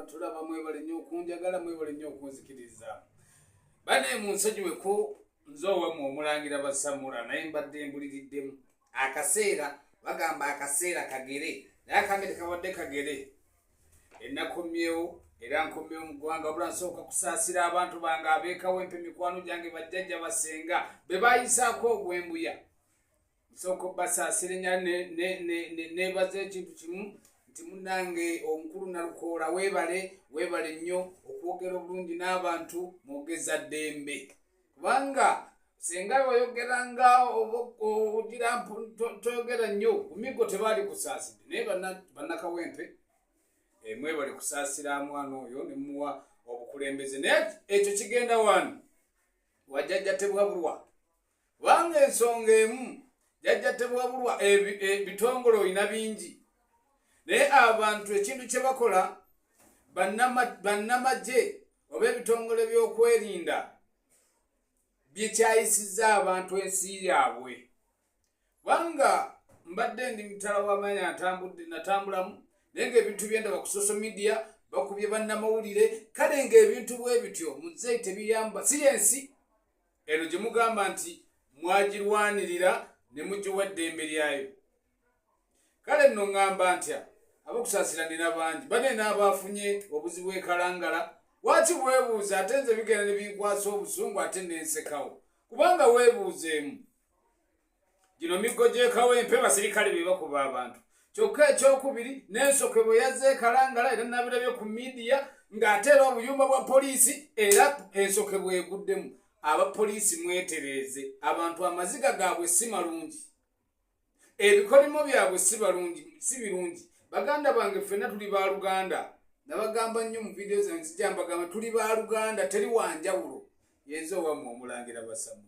tulaba mwebale nnyo okunjagala mwebale nnyo okunzikiriza bane munsonyiweko nze owamwe omulangira basamula naye mbadde mbuliriddemu akaseera bagamba akaseera kagere naye akambe tekabadde kagere enakomyewo era nkomyewo mu ggwanga bula nsooka kusaasira abantu bange abeekawo empe mikwano gyange bajjajja basenga be bayisaako ogwembuya nsooka obasaasirenya nebaza ekintu kimu nti munange omukulu nalukoola webale webale nnyo okwogera obulungi n'abantu mwogeza ddembe kubanga singa oyogera nga ogira toyogera nnyo kumigo tebaali kusaaside naye bannakawempe eh, mwebale kusaasira mwana oyo nemuwa obukulembeze naye ekyo kigenda wani wajjajja tebwabulwa kubanga ensonga emu jajja tebwabulwa ebitongole e, olina bingi naye abantu ekintu kye bakola bannamagye oba ebitongole by'okwerinda byekyayisiza abantu ensi yaabwe kubanga mbadde ndi mutala w'amaanyi atambudde natambulamu naye ngaebintu byendaba ku social media bakubye bannamawulire kale ngaebintu bwe bityo muzeyi tebiyamba si yensi eno gye mugamba nti mwagirwanirira ne mugiwa eddembe lyayo kale nno ŋŋamba ntya abakusaasiranira bangi bane n'abaafunye obuzibu ekalangala waki weebuuza ate nze bigenda ne binkwasa obusungu ate nensekawo kubanga weebuuzeemu gino miggo gyekawempe basirikale bebakuba abantu kyokka ekyokubiri nensoke bwe yazze ekalangala era nabirabye ku midiya ng'ate era obuyumba bwa poliisi era ensoke bweguddemu abapoliisi mwetereeze abantu amaziga gaabwe si malungi ebikolimo byabwe si balungi si birungi baganda bange ffenna tuli ba luganda nabagamba nnyo mu vidiyo zange zijambagamba tuli ba luganda teri wanjawulo yenze owamwe omulangira basamu